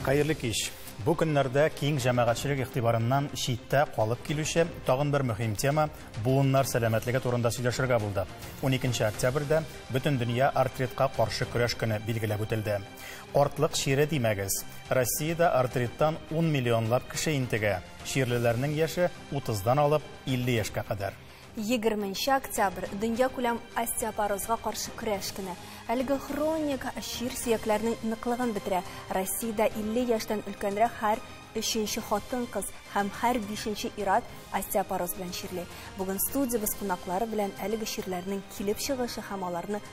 Хәерле кич. Бу көннәрдә киң җәмәгатьчелек игътибарыннан читтә калып килүче тагын бер мөһим тема буыннар сәламәтлеге турында сөйләшергә булды. 12 октябрьдә бөтен дөнья артритка каршы көрәш көне билгеләп үтелде. Картлык чире димәгез. Россиядә артриттан ун миллионлап кеше интегә. Чирлеләрнең яше 30 дан алып 50 яшькә кадәр. Егерме нче октябрь, дөньякүләм остеопорозга каршы көрәш көне. Әлеге хроник чир сөякләрнең ныклыгын бетерә. Россиядә 50 яшьтән өлкәнрәк һәр өченче хатын-кыз һәм һәр бишенче ир-ат остеопороз белән чирли. Бүген студиябез кунаклары белән әлеге чирләрнең килеп чыгышы һәм аларны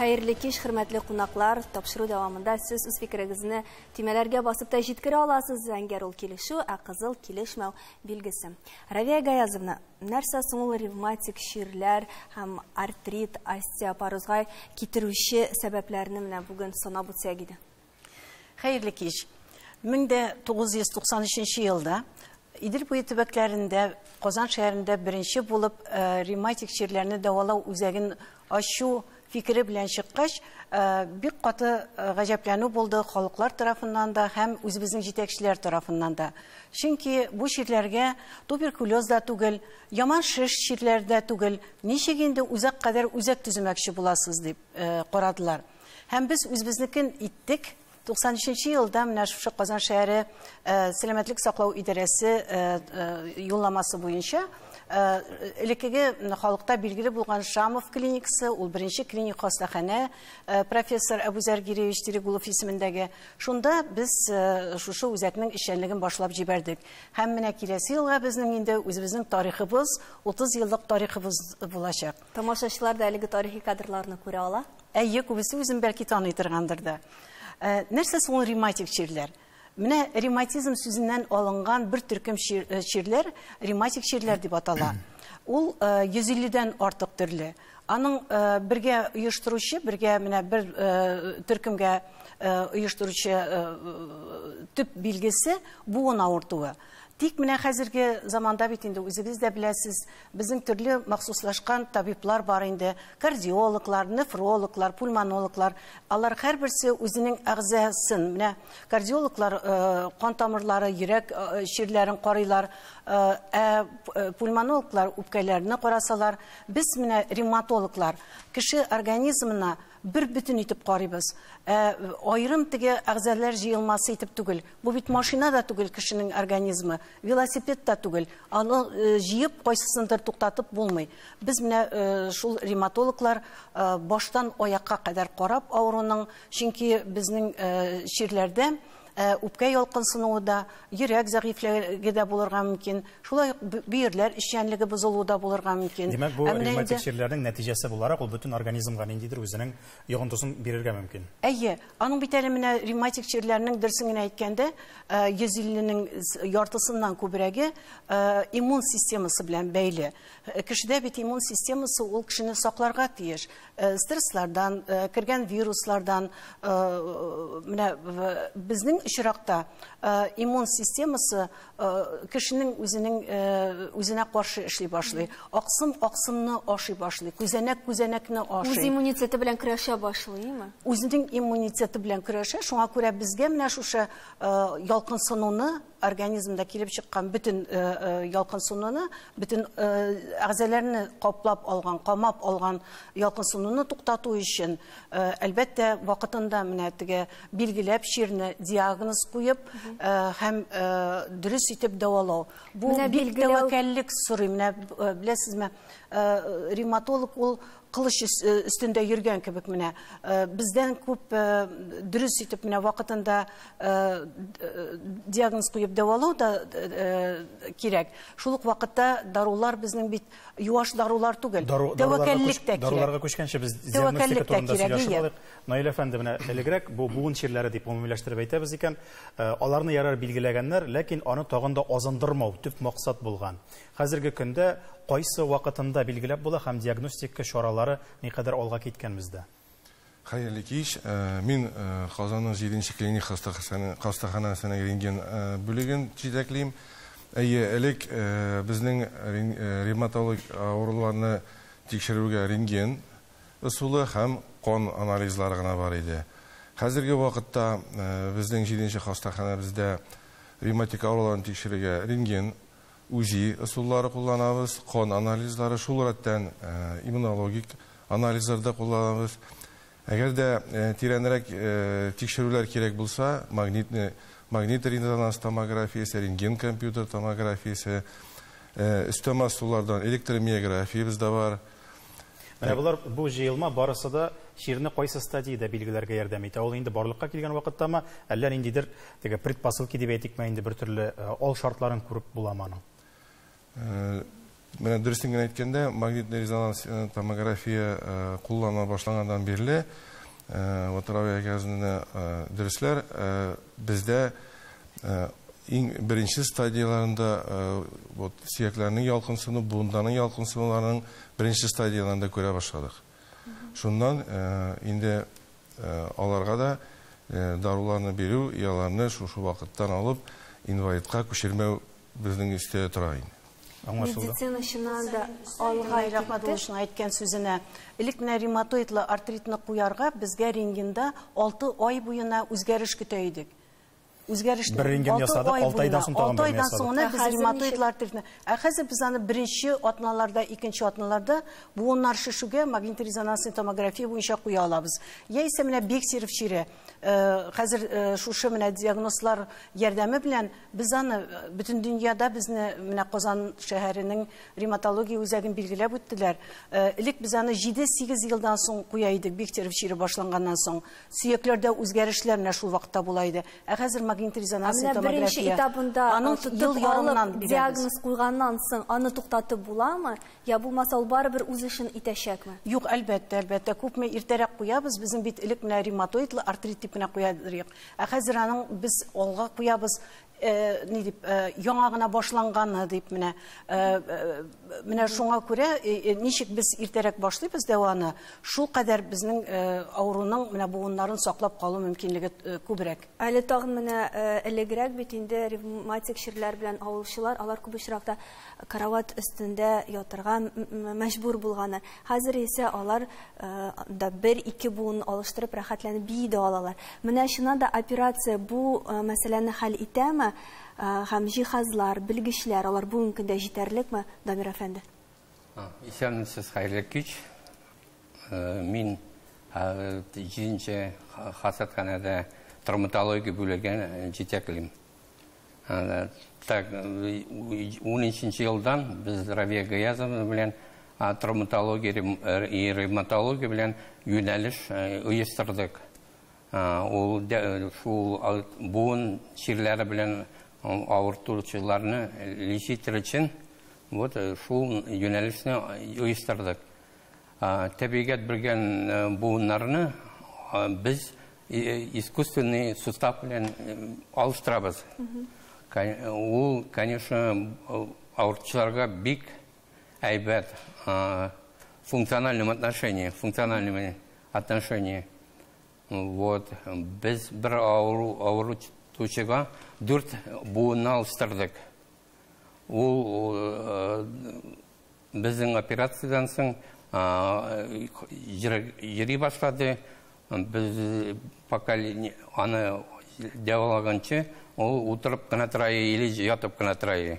Хәерле кич, хөрмәтле кунаклар. Тапшыру дәвамында сез үз фикерегезне төймәләргә басып та җиткерә аласыз. Зәңгәр ул килешү, ә кызыл килешмәү билгесе. Равия Гаязовна, нәрсә соң ул ревматик чирләр һәм артрит, остеопорозга китерүче сәбәпләрне менә бүген санап үтсәк иде. Хәерле кич. 1993 елда Идел буе төбәкләрендә Казан шәһәрендә беренче булып э, ревматик чирләрне дәвалау үзәген ачу фикере белән чыккач, э, бик каты э, гаҗәпләнү булды халыклар тарафыннан да һәм үзебезнең җитәкчеләр тарафыннан да. Чөнки бу чирләргә туберкулез да түгел, яман шеш чирләр дә түгел, ничек инде үзәк кадәр үзәк төземәкче буласыз дип карадылар. Һәм без үзебезнекен иттек. 93 нче елда менә шушы Казан шәһәре э, сәламәтлек саклау идарәсе э, э, юлламасы буенча элеккеге халыкта билгеле булган Шамов клиникасы, ул беренче клиник хастаханә, профессор Әбүзәр Гиреевич Терегулов исемендәге. Шунда без шушы үзәкнең эшчәнлеген башлап җибәрдек. Һәм менә киләсе елга безнең инде үзебезнең тарихыбыз, 30 еллык тарихыбыз булачак. Тамашачылар да әлеге тарихи кадрларны күрә ала. Әйе, күбесе үзен бәлки таный торгандыр да. Ә, нәрсә соң ул ревматик чирләр? Менә ревматизм сүзеннән алынган бер төркем э, чирләр ревматик чирләр дип атала. Ул 150 э, дән артык төрле. Аның э, бергә оештыручы, бергә менә бер төркемгә оештыручы төп билгесе буын авыртуы. Тик менә хәзерге заманда бит инде үзегез дә беләсез, Безнең төрле махсуслашкан табиблар бар инде, кардиологлар, нефрологлар, пульмонологлар. Алар һәрберсе үзенең әгъзасын, менә кардиологлар э, кан тамырлары, йөрәк э, чирләрен карыйлар, э, ә пульмонологлар үпкәләрне карасалар, без менә ревматологлар кеше организмына Бер бөтен итеп карыйбыз. Ә аерым теге әгъзалар җыелмасы итеп түгел. Бу бит машина да түгел кешенең организмы, велосипед та түгел. Аны э, җыеп, кайсысындыр туктатып булмый. Без менә э, шул ревматологлар э, баштан аякка кадәр карап авыруның, чөнки безнең чирләрдә Ә үпкә ялкынсынуы да, йөрәк зәгыйфьлеге дә булырга мөмкин. Шулай ук бөерләр эшчәнлеге бозылуы да булырга мөмкин. Димәк, бу ревматик чирләрнең нәтиҗәсе буларак, ул бөтен организмга ниндидер үзенең йогынтысын бирергә мөмкин. Әйе, аның бит әле менә ревматик чирләрнең, дөресен генә әйткәндә, 150 нең яртысыннан күбрәге иммун системасы белән бәйле. Кешедә бит иммун системасы ул кешене сакларга тиеш. стресслардан, кергән вируслардан, менә безнең очракта иммун системасы кешенең үзенең үзенә каршы эшли башлый. Аксым аксымны ашый башлый, күзәнәк күзәнәкне ашый. Үз иммунитеты белән көрәшә башлыймы? Үзенең иммунитеты белән көрәшә, шуңа күрә безгә менә шушы ялкынсынуны организмда килеп чыккан бөтен э, э, ялкынсынуны бөтен э, әгъзәләрне каплап алган камап алган ялкынсынуны туктату өчен әлбәттә вакытында менә теге билгеләп чирне диагноз куеп һәм дөрес итеп дәвалау бу бик тәвәккәллек сорый менә беләсезме ревматолог ул кылыч өстендә йөргән кебек менә э, бездән күп э, дөрес итеп менә вакытында э, диагноз куеп дәвалау да кирәк шул ук вакытта дарулар безнең бит юаш дарулар түгел тәвәкәллек тә кирәк даруларга күчкәнче без диагностика турында сөйләшеп алыйк наил әфәнде менә элегрәк бу буын чирләре дип гомумиләштереп әйтәбез икән аларны ярар билгеләгәннәр ләкин аны тагын да азындырмау төп максат булган Хәзерге көндә кайсы вакытында билгеләп була һәм диагностика чаралары никадәр алга киткән бездә? Хәерле кич. Мин Казанның җиденче клиник хастаханәсенең рентген бүлеген җитәклим. Әйе, элек безнең ревматолог авыруларны тикшерүгә рентген ысулы һәм кан анализлары гына бар иде. Хәзерге вакытта безнең җиденче хастаханәбездә ревматик авыруларны тикшерергә рентген УЗИ ысуллары кулланабыз, кан анализлары, шул рәттән иммунологик анализлар да кулланабыз. Әгәр дә тирәнрәк тикшерүләр кирәк булса, магнитный магнитор-резонанс томографиясе, рентген-компьютер томографиясе, өстәмә ысуллардан электромиографиябез дә бар. Менә болар бу җыелма барысы да чирне кайсы стадиядә билгеләргә ярдәм итә. Ул инде барлыкка килгән вакыттамы, әллә ниндидер теге предпосылки дип әйтикме, инде бер төрле э, ал шартларын күреп буламы аның? Э, менә дөресен генә әйткәндә, магнитный резонанс э, томография кулланыла башлаганнан бирле Ватарави Гәзина дөресләр бездә иң беренче стадияләрендә вот сөякләрнең ялкынсыну, буындарның ялкынсынуларының беренче стадияләрендә күрә башладык. Шуннан инде аларга да даруларны бирү, ияларны шушы вакыттан алып инвалидка күчермәү Безнең өстә тора инде. Аңлашылды. Медицина чыннан да алга китте. Рәхмәтуллашның әйткән сүзенә. Элек менә ревматоидлы артритны куярга безгә рентгенда алты ай буена үзгәреш көтә идек. Үзгәрешне бер рентген ясадык, алты айдан соң тагын бер ясадык. Алты айдан соң без ревматоидлы артритны. Ә хәзер без аны беренче атналарда, икенче атналарда буыннар шешүгә магнитно-резонансный томография буенча куя алабыз. Яисә менә Бексиров чире. Э, хәзер э, шушы менә диагнозлар ярдәме белән Без аны бөтен дөньяда безне менә Казан шәһәренең рематология үзәген билгеләп үттеләр. Э, элек без аны 7-8 елдан соң куя идек, Бехтерев чире башланганнан соң. Сөякләрдә үзгәрешләр менә шул вакытта була иде. Ә хәзер магнит резонансный томография. Менә беренче этабында аның ел ярымнан диагноз куйганнан соң аны туктатып буламы? Я булмаса ул барыбер үз эшен итәчәкме? Юк, әлбәттә, әлбәттә, күпме иртәрәк куябыз, безнең бит элек менә ревматоидлы артрит дип кенә куя идек. Ә хәзер аның без алга куябыз, ни дип, яңа гына башланганы дип менә. Менә шуңа күрә ничек без иртәрәк башлыйбыз дәваны, шулкадәр безнең авыруның менә буыннарын саклап калу мөмкинлеге күбрәк. Әле тагын менә элегрәк бит инде ревматик чирләр белән авылчылар, алар күп очракта карават өстендә ятырга мәҗбүр булганнар. Хәзер исә алар анда бер-ике буын алыштырып рәхәтләнеп бии дә алалар. Менә чыннан да операция бу мәсьәләне хәл итәме? Һәм җиһазлар, белгечләр, алар бүгенге көндә җитәрлекме, Дамир әфәнде? Исәнмесез, хәерле кич. Мин җиденче хасатханәдә травматология бүлеген җитәклим. Так, унынчынчы елдан без Равия Гаязовна белән травматология и ревматология белән юнәлеш оештырдык. Ул шул буын чирләре белән авыртучыларны лечитер өчен вот шул юнәлешне оештырдык. Тәбигать белгән буыннарны без искусственный сустав белән алыштырабыз. Ул, конечно, авыртучыларга бик әйбәт функциональном отношении, функциональном отношении. Вот, без бер авыру, авыру тучыга дүрт буынны алыштырдык. Ул э, безнең операциядан соң йөри башлады. Без пока аны дәвалаганчы, ул утырып кына тора или ятып кына тора.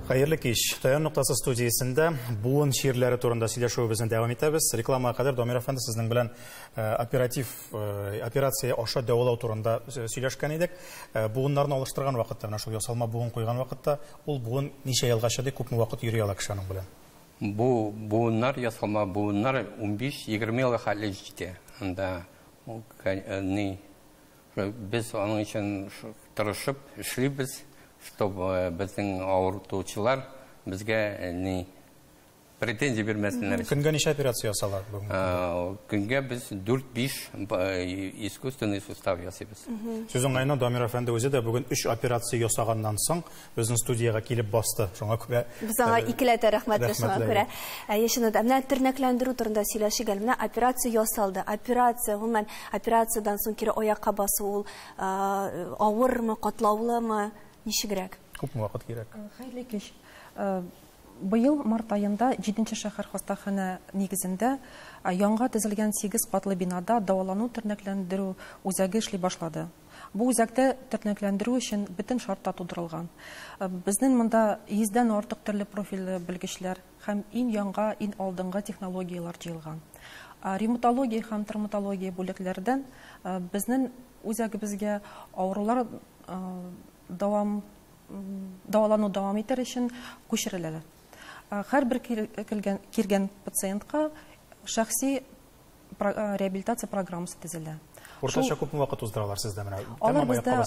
Хәерле кич. Таян ноктасы студиясендә буын чирләре турында сөйләшүебезне дәвам итәбез. Рекламага кадәр Дамир әфәнде сезнең белән э, оператив э, операция аша дәвалау турында э, сөйләшкән идек. Буыннарны алыштырган вакытта, менә шул ясалма буын куйган вакытта, ул буын ничә елга чыдый, күпме вакыт йөри ала кеше аның белән? Бу буыннар ясалма буыннар 15-20 елга хәтле җитә. Анда ни Без аның өчен тырышып эшлибез, чтобы безнең авыртучылар безгә ни претензия бирмәсеннәр. Көнгә ничә операция ясала? Көнгә без 4-5 искусственный сустав ясыйбыз. Сүз уңаена, Дамир әфәнде үзе дә бүген өч операция ясаганнан соң, безнең студиягә килеп басты. Шуңа күрә без аңа икеләтә рәхмәтле шуңа күрә. Әйе, чыннан да. Менә тернәкләндерү турында сөйләшик әле. Менә операция ясалды. Операция, гомумән, операциядән соң кире аякка басу ул авырмы, катлаулымы, ничегрәк? Күпме вакыт кирәк? Хәерле кич. Быел март аенда җиденче шәһәр хастаханә нигезендә яңа төзелгән сигез катлы бинада дәвалану-тернәкләндерү үзәге эшли башлады. Бу үзәктә тернәкләндерү өчен бөтен шарт та тудырылган. Безнен монда йөздән артык төрле профильле белгечләр һәм ин яңга, ин алдынгы технологияләр җыелган. Ревматология һәм травматология бүлекләрдән безнен үзәгебезгә авырулар дәвам дәвалану дәвам итәр өчен күчереләләр. Һәрбер кергән пациентка шәхси Э, реабилитация программасы төзелә. Уртача күп вакыт уздыралар сездә менә? Алар бездә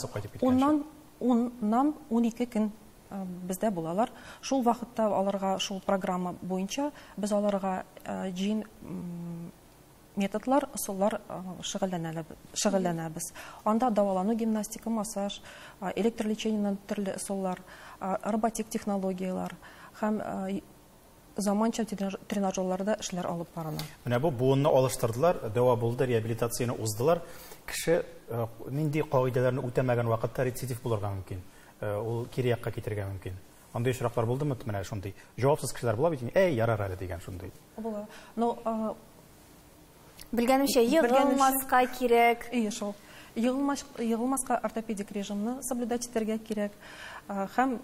уннан уннан унике көн э, бездә булалар. Шул вакытта аларга шул программа буенча без аларга э, җин методлар, ысуллар шөгыльләнәбез. Анда дәвалану гимнастика, массаж, электрлечениенең төрле ысуллар, роботик технологияләр һәм заманча тренажерларда эшләр алып барыла. Менә бу буынны алыштырдылар, дәва булды, реабилитацияне уздылар. Кеше нинди кагыйдәләрне үтәмәгән вакытта рецидив булырга мөмкин. Ул кире якка китергә мөмкин. Андый очраклар булдымы? Менә шундый җавапсыз кешеләр була бит, әй, ярар әле дигән шундый. Була. Но Белгәнемчә, егылмаска кирәк. Әйе шул. Егылмаска ортопедик режимны соблюдать итәргә кирәк. Һәм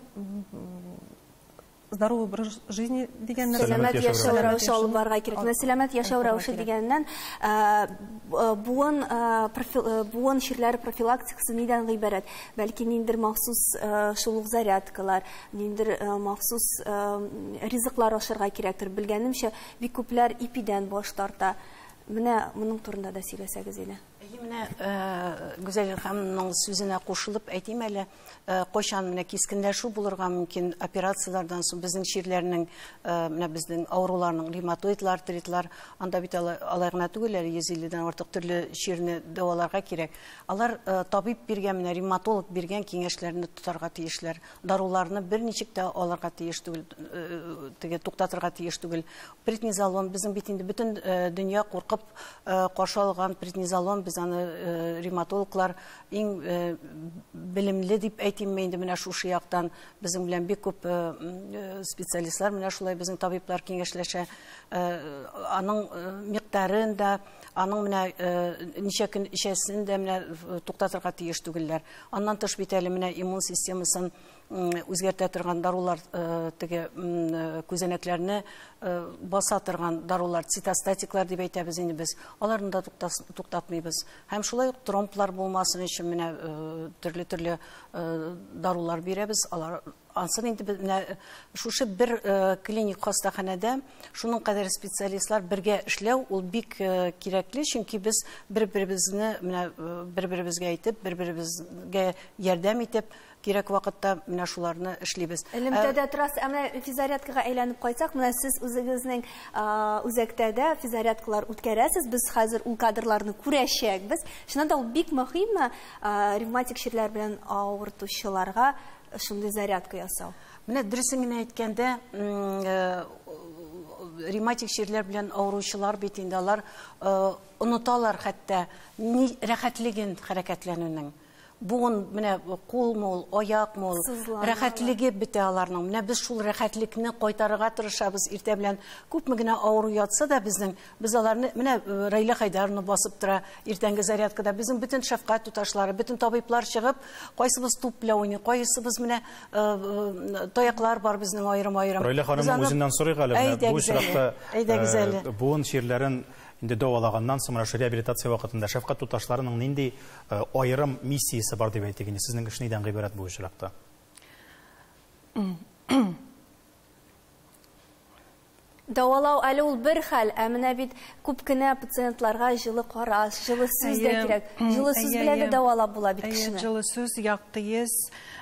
здоровый образ жизни дигәннән сәламәт яшәү рәвеше алып барырга кирәк. Менә сәламәт яшәү рәвеше дигәннән буын буын чирләре профилактикасы нидән гыйбарәт? Бәлки ниндер махсус шул ук зарядкалар, ниндер махсус ризыклар ашарга кирәктер. Белгәнемчә, бик күпләр ипидән баш тарта. Менә моның турында да сөйләсәгез иде. Әйе, менә Гүзәл ханымның сүзенә кушылып әйтим әле. Э, кайчан менә кискенләшү булырга мөмкин операцияләрдән соң безнең чирләрнең э, менә безнең авыруларның ревматоидлы артритлар анда бит алай гына түгел әле йөз илледән артык төрле чирне дәваларга кирәк алар э, табиб биргән менә ревматолог биргән киңәшләрне тотарга тиешләр даруларны берничек тә алырга тиеш түгел теге туктатырга тиеш түгел преднизолон безнең бит инде бөтен дөнья куркып каршы алган преднизолон без аны ревматологлар Иң белемле дип әйтимме инде менә шушы яктан безнең белән бик күп специалистлар менә шулай безнең табиблар киңәшләшә. Аның микъдарын да, аның менә ничә көн эчәсен дә менә туктатырга тиеш түгелләр. Аннан тыш бит әле менә иммун системасын үзгәртә торган дарулар э, теге э, күзәнәкләрне э, баса торган дарулар цитостатиклар дип әйтәбез инде без аларны да туктатмыйбыз һәм шулай ук тромблар булмасын өчен менә төрле төрле дарулар бирәбез алар ансын инде менә шушы бер клиник хастаханәдә шуның кадәр специалистлар бергә эшләү ул бик кирәкле чөнки без бер беребезне менә бер беребезгә әйтеп бер беребезгә ярдәм итеп кирәк вакытта менә шуларны эшлибез. Элемтәдә торасыз, ә менә физзарядкага әйләнеп кайтсак, менә сез үзегезнең үзәктә дә физзарядкалар үткәрәсез. Без хәзер ул кадрларны күрәчәкбез. Чыннан да ул бик мөһимме ревматик чирләр белән авыртучыларга шундый зарядка ясау? Менә дөресен генә әйткәндә, ревматик чирләр белән авыручылар бит инде алар оныталар хәтта рәхәтлеген хәрәкәтләнүнең. Буын менә кулмы ул, аякмы ул, Сызланалар. рәхәтлеге бетә аларның. Менә без шул рәхәтлекне кайтарырга тырышабыз иртә белән. Күпме генә авыру ятса да безнең, без аларны, менә э, Раилә Хайдаровна басып тора иртәнге зарядкада. Безнең бөтен шәфкать туташлары, бөтен табиблар чыгып, кайсыбыз туп белән уйный, кайсыбыз менә э, э, таяклар бар безнең аерым-аерым. Раилә Без ханымның аны- үзеннән сорыйк әле. менә Бу Әйдәгез әле, очракта әйдәгез э, әле. буын чирләрен инде дәвалаганнан соң, менә шул реабилитация вакытында шәфкать туташларының нинди Э, аерым миссиясе бар дип әйтик инде сезнең эш нидән гыйбарәт бу очракта дәвалау әле ул бер хәл ә менә бит күп кенә пациентларга җылы караш җылы сүз дә кирәк җылы сүз белән дә дәвалап була бит кешене җылы сүз якты ес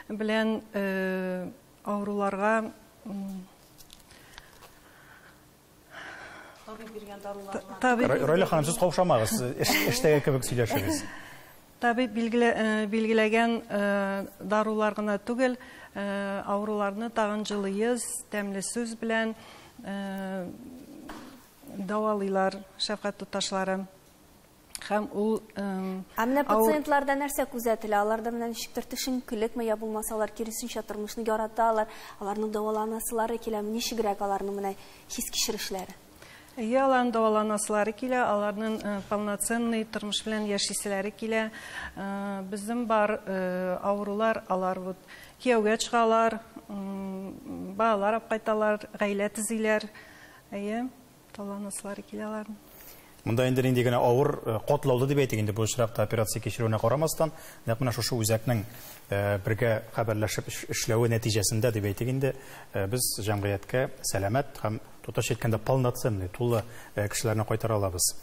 белән э, авыруларга Табиб биргән дарулар. Райла ханым, сез каушамагыз, эштәге кебек сөйләшегез. Табиб билгеләгән дарулар гына түгел, авыруларны тагын җылы йөз, тәмле сүз белән дәвалыйлар шәфкать туташлары. Һәм ул Ә менә пациентларда нәрсә күзәтелә? Аларда менә ничектер төшенкелекме, я булмаса алар киресенчә тормышны яраталар, аларның дәваланасылары киләме, ничегрәк аларның менә хис-кичерешләре? Әйе, аларның дәваланасылары килә, аларның полноценный тормыш белән яшиселәре килә. Безнең бар авырулар, алар вот кияүгә чыгалар, балалар алып кайталар, гаилә төзиләр. Әйе. Таланыслары килә алар. Монда инде нинди генә авыр, э, котлаулы дип әйтик инде бу очракта операция кичерүенә карамастан, нәкъ менә шушы үзәкнең э, бергә хәбәрләшеп эшләве нәтиҗәсендә дип әйтик инде, э, без җәмгыятькә сәламәт һәм тотач әйткәндә полноценный, тулы кешеләрне кайтара алабыз.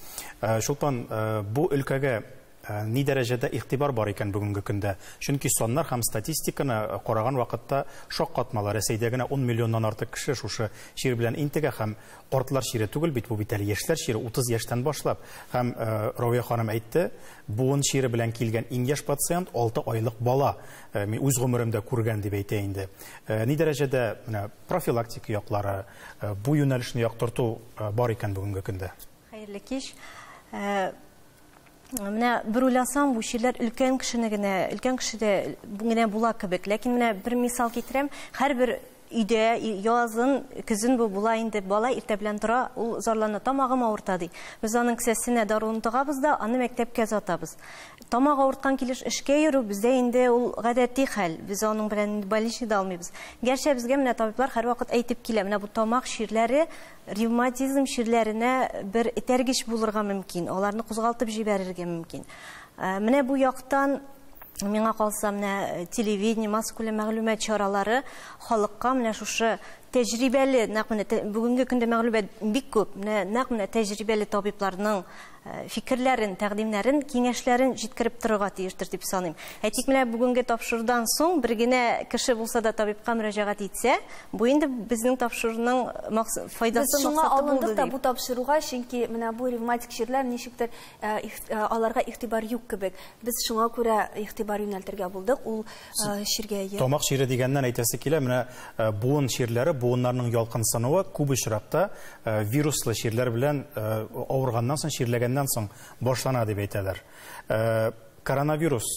Чулпан, бу өлкәгә Ни дәрәҗәдә игътибар бар икән бүгенге көндә? Чөнки саннар һәм статистиканы караган вакытта шаккатмалы, Рәсәйдә генә ун миллионнан артык кеше шушы чир белән интегә һәм картлар чире түгел бит бу бит әле, яшьләр чире, утыз яшьтән башлап. Һәм, Равия ханым әйтте, буын чире белән килгән иң яшь пациент, алты айлык бала. Мин үз гомеремдә күргән, дип әйтә инде. Ни дәрәҗәдә менә профилактика яклары, бу юнәлешне яктырту бар икән бүгенге көндә? Хәерле кич. Менә бер уйласаң, бу чирләр өлкән кешене генә, өлкән кешедә генә була кебек. Ләкин менә бер мисал китерәм, һәрбер өйдә язын, көзен бу була инде. Бала иртә белән тора, ул зарлана, тамагым авырта ди. Без аның кесәсенә даруын тыгабыз да, аны мәктәпкә озатабыз. Тамак авырткан килеш эшкә йөрү бездә инде ул гадәти хәл. Без аның белән инде больничныйда алмыйбыз. Гәрчә безгә менә табиблар һәрвакыт әйтеп килә, менә бу тамак чирләре Ревматизм чирләренә бер этәргеч булырга мөмкин, аларны кузгалтып җибәрергә мөмкин. Э, менә бу яктан миңа калса менә э, телевидение массакүләм мәгълүмат чаралары халыкка менә шушы тәҗрибәле нәкъ менә бүгенге көндә мәгълүмат бик күп менә нәкъ менә тәҗрибәле табибларның фикерләрен, тәкъдимнәрен, киңәшләрен җиткереп торырга тиештер дип саныйм. Ә тик менә бүгенге тапшырудан соң бер генә кеше булса да табибка мөрәҗәгать итсә, бу инде безнең тапшыруның файдасы, максаты булды дип. Без шуңа алындык та бу тапшыруга, чөнки менә бу ревматик чирләр ничектер аларга игътибар юк кебек. Без шуңа күрә игътибар юнәлтергә булдык. Ул Э, чиргә ия. Тамак чире дигәннән әйтәсе килә, менә э, буын чирләре, буыннарның ялкынсынуы күп очракта э, вируслы чирләр белән авырганнан соң, чирләгәннән соң башлана дип әйтәләр. Коронавирус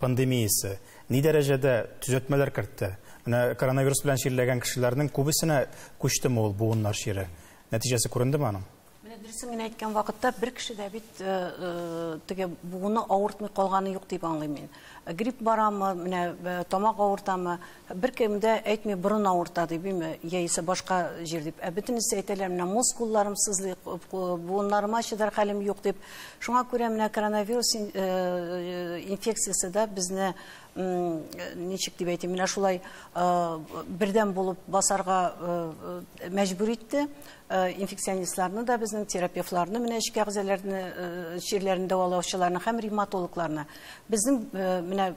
пандемиясе ни дәрәҗәдә төзәтмәләр кертте? Менә коронавирус белән чирләгән кешеләрнең күбесенә күчтеме ул буыннар чире? Нәтиҗәсе күрендеме аның? Менә дөресен генә әйткән вакытта бер кеше дә бит э, э, теге буыны авыртмый калганы юк дип аңлыйм мин. Э, грипп барамы, менә тамак авыртамы, бер кем дә әйтми борын авырта дип, име, яисә башка җир дип. Ә бөтенесе әйтәләр, менә мускулларым сызлый, буыннарыма чыдар хәлем юк дип. Шуңа күрә менә коронавирус инфекциясе дә безне ничек дип әйтим, менә шулай бердәм булып басарга мәҗбүр итте. Э, инфекционистларны да безнең терапевтларны менә эчке әгъзаларны э, чирләрен дәвалаучыларны һәм ревматологларны безнең э, менә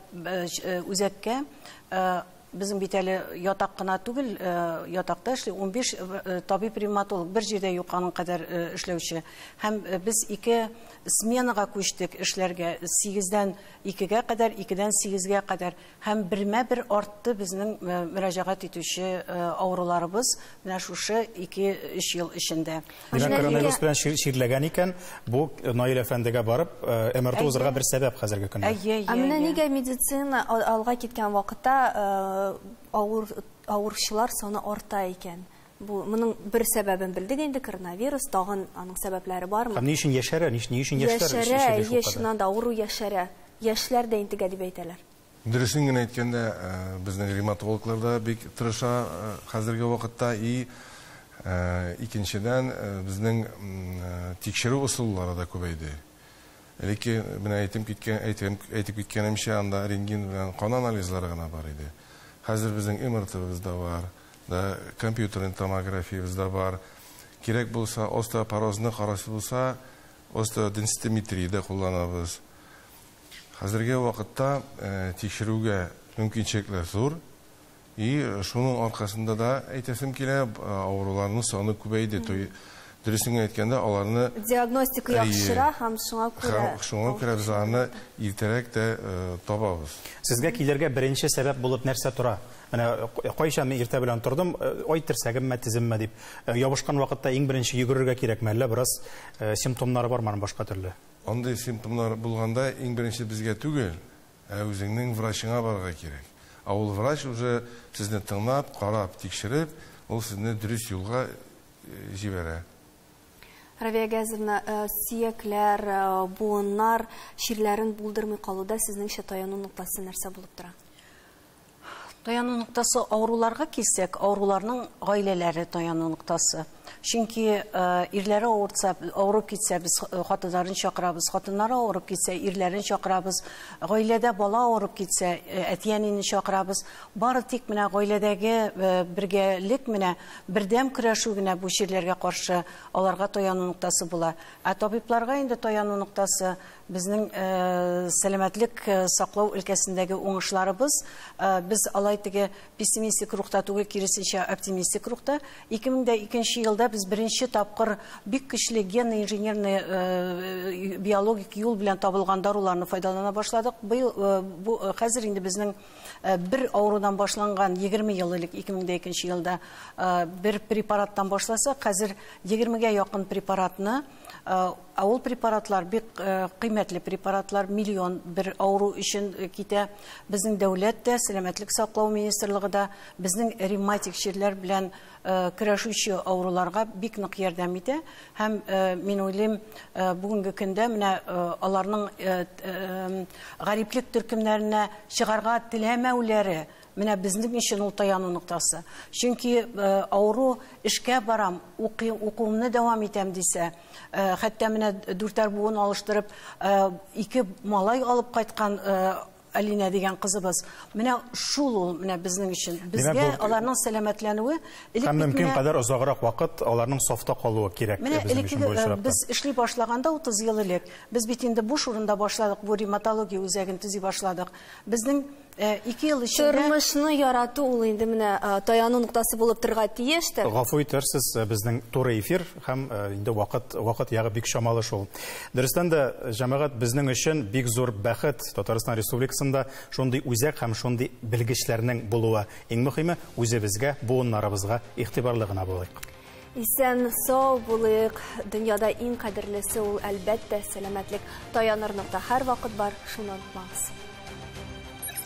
үзәккә безнең бит әле ятак кына түгел ятакта эшли 15 табиб ревматолог бер җирдә юк аның кадәр эшләүче һәм без ике сменага күчтек эшләргә 8-дән 2-гә кадәр 2-дән 8-гә кадәр Һәм бермә-бер артты безнең мөрәҗәгать итүче авыруларыбыз менә шушы ике-өч ел эчендә. Менә коронавирус белән чирләгән икән, бу Наил әфәндегә барып МРТ узырга бер сәбәп хәзерге көндә. Әйе, әйе. Ә менә нигә медицина алга киткән вакытта авыручылар саны арта икән? Бу моның бер сәбәбен белдек инде, коронавирус, тагын аның сәбәпләре бармы? Һәм ни өчен яшәрә, ни, ни өчен яшьләр Яшәрә, әйе, чыннан да авыру яшәрә. Яшьләр дә интегә дип әйтәләр. Дөресен генә әйткәндә, безнең ревматологлар да бик тырыша хәзерге вакытта, и, икенчедән, безнең тикшерү ысуллары да күбәйде. Элекке, менә әйтем киткән, әйтем, әйтеп киткәнемчә, анда рентген белән кан анализлары гына бар иде. Хәзер безнең МРТ-быз да бар. да, компьютерный томографиябез дә бар. Кирәк булса, остеопорозны карыйсы булса, остеоденситометрия дә кулланабыз. Хәзерге вакытта тикшерүгә мөмкинчелекләр зур. И шуның аркасында да әйтәсем килә, авыруларның саны күбәйде. Дөресен генә әйткәндә, аларны Диагностика Әйе. яхшыра һәм шуңа күрә Һәм шуңа күрә без аларны иртәрәк тә э, табабыз. Сезгә килергә беренче сәбәп булып нәрсә тора? Менә к- кайчан мин иртә белән тордым, э, ой, терсәгемме, теземме дип. Э, Ябышкан вакытта иң беренче йөгерергә кирәкме, әллә бераз э, симптомнары бармы аның башка төрле? Андый симптомнар булганда иң беренче безгә түгел, ә үзеңнең врачыңа барырга кирәк. Ә ул врач уже сезне тыңлап, карап, тикшереп, ул сезне дөрес юлга җибәрә. Равия Газовна, сөякләр, буыннар чирләрен булдырмый калуда сезнеңчә таяну ноктасы нәрсә булып тора? Таяну ноктасы авыруларга килсәк, авыруларның гаиләләре таяну ноктасы. Чөнки ирләре авырса, авырып китсә, без хатыннарын чакырабыз, хатыннары авырып китсә, ирләрен чакырабыз, гаиләдә бала авырып китсә, әти-әнине чакырабыз. Бары тик менә гаиләдәге бергәлек менә Бердәм көрәшү генә бу чирләргә каршы аларга таяну ноктасы була. Ә табибларга инде таяну ноктасы безнең сәламәтлек саклау өлкәсендәге уңышларыбыз. Без алай теге пессимистик рухта түгел, киресенчә, оптимистик рухта. 2002 елда без беренче тапкыр бик көчле генно-инженерный биологик юл белән табылган даруларны файдалана башладык. Быел, бу хәзер инде безнең Э, бер авырудан башланган 20 ел элек 2002 елда э, бер препараттан башласа хәзер 20-гә якын препаратны э, ә ул препаратлар бик кыйммәтле препаратлар миллион бер авыру өчен китә безнең дәүләт тә сәламәтлек саклау министрлыгы да безнең ревматик чирләр белән көрәшүче авыруларга бик нык ярдәм итә һәм мин уйлыйм бүгенге көндә менә аларның гариплек төркемнәренә чыгарга теләмәүләре менә безнең өчен ул таяну ноктасы чөнки авыру эшкә барам укыйм укуымны дәвам итәм дисә хәтта менә дүртәр буын алыштырып ике малай алып кайткан Алинә дигән кызыбыз. Менә шул ул, менә безнең өчен. Безгә аларның сәламәтләнүе элек Һәм мөмкин кадәр озаграк вакыт аларның сафта калуы кирәк безнең өчен бу очракта. Без эшли башлаганда 30 ел элек, без бит инде буш урында башладык, бу ревматология үзәген төзи башладык. Безнең 2 ел эчендә Тормышны ярату ул инде менә таяну ноктасы булып торырга тиеш тә. Гафу итәрсез, безнең туры эфир. Һәм инде вакыт, вакыт ягы бик чамалы шул. Дөрестән дә, җәмәгать безнең өчен бик зур бәхет Татарстан Республикасында шундый үзәк һәм шундый белгечләрнең булуы. Иң мөхиме, үзебезгә, буыннарыбызга игътибарлы гына булыйк. Исән, сау булыйк. Дөньяда иң кадерлесе ул, әлбәттә, сәламәтлек. Таяныр нокта һәрвакыт бар, шуны онытмагыз.